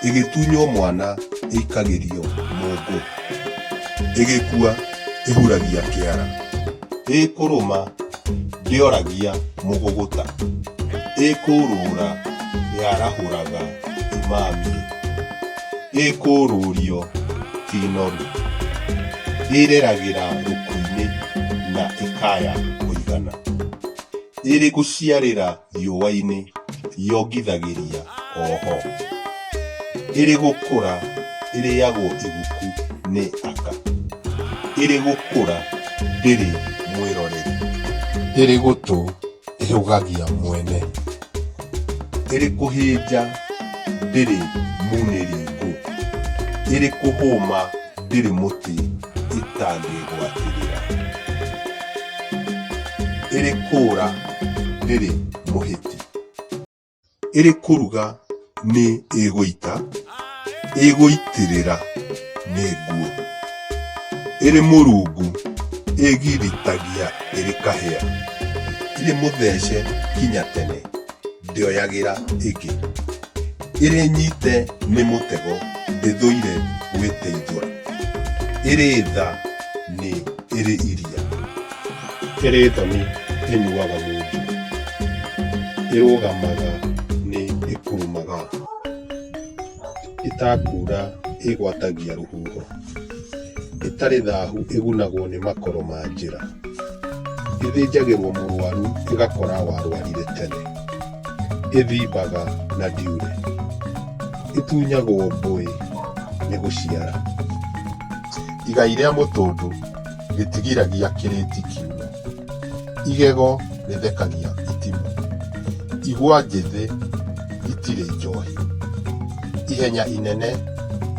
ĩgĩtunywo mwana ĩikagĩrio mũngũ ĩgĩkua ĩhuragia kĩara ĩkũrũma ndĩoragia mũgũgũta ĩkũrũra yarahũraga imamie ĩkũũrũũrio ti noru, ĩreragĩra rũku-inĩ na ĩkaya kũigana, ĩrĩ gũciarĩra riũa-inĩ yongithagĩria o ho, ĩrĩ gũkũra ĩrĩagwo iguku nĩ aka, ĩrĩ gũkũra ndĩrĩ mwĩroreri, ĩrĩ gũtũ ĩhũgagia mwene. ĩrĩ kũhĩnja ndĩrĩ munĩringu, ĩrĩ kũhũma ndĩrĩ mũtĩ ĩtangĩgwatĩrĩra, ĩrĩ kũũra ndĩrĩ mũhĩti, ĩrĩ kũruga nĩ ĩgũita ĩgũitĩrĩra nĩ nguo ĩrĩ mũrungu ĩgiritagia ĩrĩ kahĩa irĩ mũthece kinya tene ndĩoyagĩra ĩngĩ ĩrĩ nyite nĩ mũtego ndĩthũire gwĩteithũra ĩrĩ tha nĩ ĩrĩ iria ĩrĩthoni ĩnyuaga munju ĩrũgamaga nĩ ĩkurumaga ĩtakura ĩgwatagia rũhuho ĩtarĩ thahu ĩgunagwo nĩ makoro ma njĩra ĩthĩnjagĩrwo mũrwaru ĩgakora warwarire tene ĩthimbaga na ndiure ĩtunyagwo mbũĩ nĩ gũciara Igai rĩa mũtũndũ rĩtigiragia kĩrĩti kiume. Igego rĩthekagia itimũ. Igwa njĩthĩ itirĩ njohi. Ihenya inene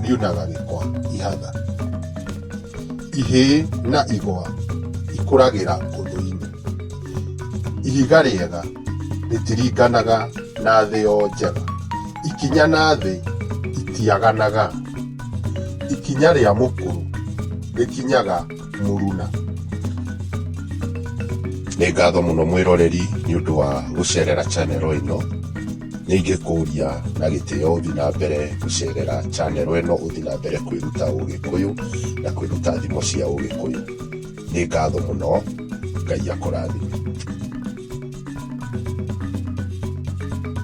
riunaga gĩkwa ihatha. Ihĩ na igwa ikũragĩra ũthũ-inĩ. Ihiga rĩega rĩtiringanaga na thĩ o njega. Ikinya na thĩ itiaganaga. Ikinya rĩa mũkũrũ rĩkinyaga mũruna. Nĩ ngatho mũno mwĩroreri nĩ ũndũ wa gũcerera channel ĩno. Nĩ ingĩkũria na gĩtĩo ũthiĩ na mbere gũcerera channel ĩno ũthiĩ na mbere kwĩruta Ũgĩkũyũ na kwĩruta thimo cia Ũgĩkũyũ. Nĩ ngatho mũno, Ngai akũrathime.